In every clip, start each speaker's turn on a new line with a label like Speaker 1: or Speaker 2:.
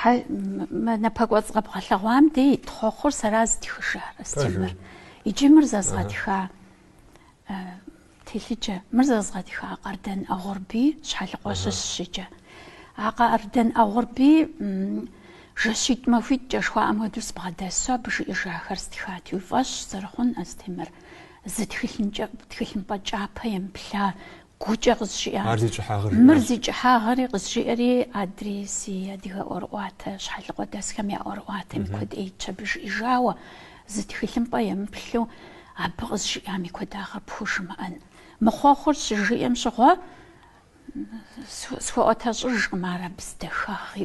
Speaker 1: Хьэ, мы напэкӏуэцӏ къэбгъэлъэгъуам дей ит хъуэхъур сэра зытхыжар, Астемыр. Иджы мыр зэзгъэтха телъыджэ, мыр зэзгъэтха Къардэн Агъурбий Щхьэлыкъуэ щыщщ иджы. А Къардэн Агъурбий жэщитӏ-махуитӏкӏэ жыхуаӏэм хуэдэу сыбгъэдэсу абы жиӏэжахэр стхат. Уи фӏэщ зэрыхъун, Астемыр, зы тхылъымпӏэ кӏапэ емыплъа Гукӏэ къызжиӏа. Мыр зи кӏыхьагъэри къызжиӏэри, адрей си адыгэ ӏуэрыӏуатэ щхьэлыкъуэдэсхэм я ӏуэрыӏуатэм и куэд ӏейт абы жиӏэжауэ, зы тхылъымпӏэ емыплъу абы къызжиӏам и куэдагъыр пхужымыӏэн. Мы хъуэхъур щыжиӏэм щыгъуэ, схуэӏуэтэщӏыжкъым ар абы зи дахагъ.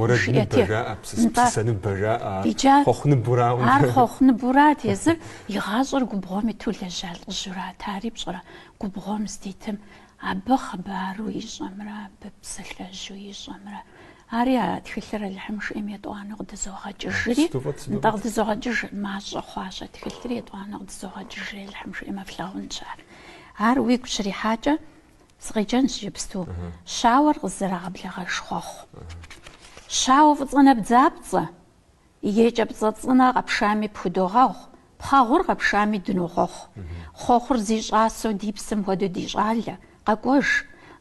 Speaker 1: Ар хъуэхъу ныбурат, езыр и гъащӏэр губгъуэм иту лэжьа лӏыжьурат, ари пщӏэрэ? Губгъуэм здитым абы хъыбару ищӏэмрэ абы псалъэжьу ищӏэмрэ, ари а тхылъыр Алыхьым жиӏэм етӏуанэу къыдызогъэкӏыжри, нтӏэ, къыдызогъэкӏыж, мащӏэ хъуащ а тхылъыр етӏуанэу къыдызогъэкӏыжри Алыхьым жиӏэмэ флъагъунщ ар. Ар уигу щрихьакӏэ, сыкъеджэнщ иджыпсту, щауэр къызэрагъэблэгъэж хъуэхъу. Щауэ фӏыцӏэ нэбдзапцӏэ, Екӏэпцӏэ цӏынэ къэпшами пхудогъэгъу, пхъэгъур къэпшами дынохъуэхъу. Хъуэхъур зи щӏасэу ди псэм хуэдэу ди щӏалэ, къэкӏуэж.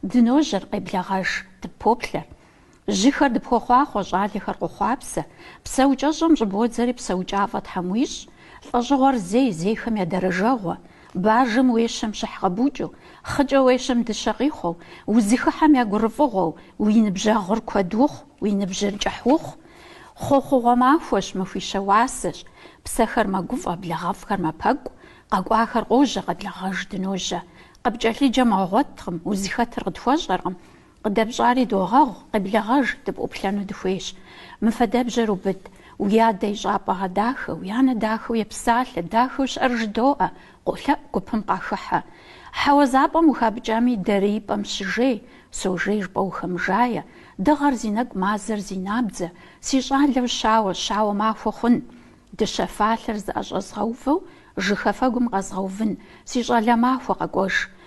Speaker 1: Дыножьэр, къеблэгъэж, дыппоплъэр. Жьыхэр дыпхуохъуахъуэ, щӏалэхэр къохъуапсэ. Псэукӏэщӏэм щӏыбодзэри псэукӏафӏэ Тхьэм уищӏ. Лӏэщӏыгъуэр зей, зейхэм я дэрэжэгъуэ. Бажэм уещэм щыхь къэбукӏыу, хъыкӏэ уещэм дыщэ къихъуэу, узыхыхьэм я гурыфӏыгъуэу, уи ныбжьэгъур куэд ухъу, уи ныбжьыр кӏыхь ухъу, Хъуэхъугъуэ махуэщ, махуищэ уасэщ, псэхэр мэгуфӏэ, благъэфӏхэр мэпэкӏу, къэкӏуахэр къожьэ, къеблэгъэж дыножьэ. Къыпкӏэлъыджэм уигъуэткъым, узыхэтыр къытхуэщӏэркъым. Къыдэпщӏари догъэгъу, къеблэгъэж, дыпӏуплъэну дыхуейщ. Мы фэдэбжьэр убыд, уи адэ и щӏапӏэ гъэдахэ, уи анэ дахэу епсалъэ, дахэу щыӏэр жыдоӏэ, Къолъэӏу гупым къахыхьэ. Хьэуазэ пӏэм ухапӏыкӏами, дарий пӏэм щыжей, сожей жыпӏэ ухэмыжае, дыгъэр зи нэкӏу мазэр зи набдзэ, си щӏалэу щауэ, щауэ махуэ хъун. Дыщэ фалъэр зыӏэщӏэзгъэувэу жыхафэгум къэзгъэувын, си щӏалэ махуэ къэкӏуэж.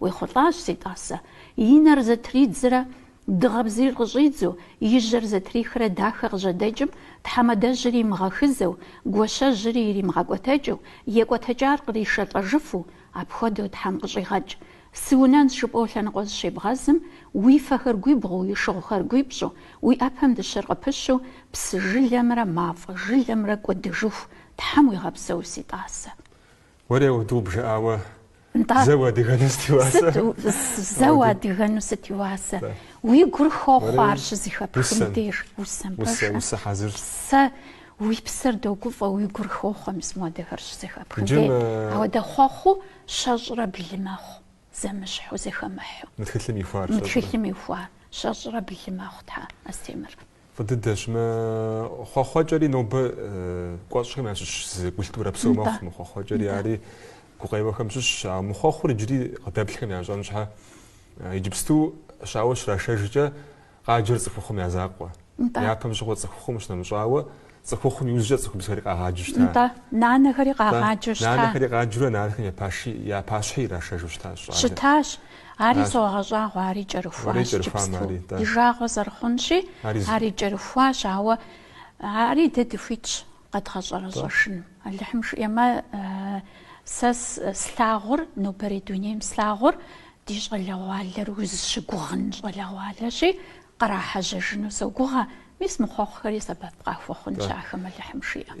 Speaker 1: Уехъулӏащ, си тӏасэ. И нэр зэтридзрэ дыгъэ бзийр къыщӏидзу, и жьэр зэтрихрэ дахэ къыжьэдэкӏым, тхьэмадэжьыр имыгъэхызэу, гуащэжьри иримыгъэкӏуэтэкӏыу, екӏуэтэкӏар къришэлӏэжыфу, апхуэдэу Тхьэм къыщӏигъэкӏ. Сыунэнщ жыпӏэу лъэныкъуэ зыщебгъэзым, уи фэхэр гуибгъуу, уи шыгъухэр гуипщӏу, уи ӏэпэм дыщэр къыпыщу, псы жылэмрэ мафӏэ жылэмрэ кӏуэдыжыху Тхьэм уигъэпсэу, си тӏасэ. Уэри
Speaker 2: ауэдэу бжыӏауэ Нтӏэ. Зэ уадыгэну сыт и уасэ? Сыт зэ
Speaker 1: уадыгэну сыт и уасэ? Уи гур хохъуэ ар щызыхэпхым деж, усэм пэжу. Усэ хьэзыр. Сэ уи псэр догуфӏэ уи гур хохъуэ мис моуэдэхэр щызэхэпхым деж. Ауэ дэ хъуэхъуу щэщӏрэ блы мэхъу. Зэмыщхьу, зэхэмыхьу. Мы тхылъым
Speaker 2: ихуар, щэщӏрэ? Мы тхылъым
Speaker 1: ихуар, щэщӏрэ блы мэхъу, Тхьэ, Астемыр. Фӏы дыдэщ. Мы
Speaker 2: хъуэхъуэкӏэри нобэ кӏуэщӏхэм ящыщ зы культурэ псо мэхъу. Мы хъуэхъуэкӏэри ари гукъеуэхэм щыщщ. Ауэ мы хъуэхъур иджыри къыдэплъхэм ящӏэн щхьэ, иджыпсту щауэ щрашэжкӏэ, Къаджэр цӏыхухъум я закъуэ. Япэм щыгъуэ цӏыхухъум щынэмыщӏауэ, цӏыхухъум иужькӏэ цӏыхубзхэри къагъаджу щыта. Нтӏэ, нанэхэри къагъаджу
Speaker 1: щыта. Нанэхэри къаджурэ нанэхэм
Speaker 2: я паши, я пащхьи ирашэжу щытащ щӏалэр. Щытащ.
Speaker 1: Ари согъэщӏагъуэ, ари кӏэрыхуащ Уэри кӏэрыхуамэ, иджыпсту. ари, нтӏэ. Ди жагъуэ зэрыхъунщи, Ари зы. ари кӏэрыхуащ, ауэ ари дэ дыхуитщ къэдгъэщӏэрэщӏэжыну. Алыхьым жиӏэмэ, сэ слъагъур, нобэрей дунейм слъагъур, Ди щӏалэгъуалэр узыщыгугъын щӏалэгъуалэщи, кърахьэжьэжыну согугъэ, мис мы хъуэхъухэри сэбэп къахуэхъунщ ахэм Алыхьым жиӏэм.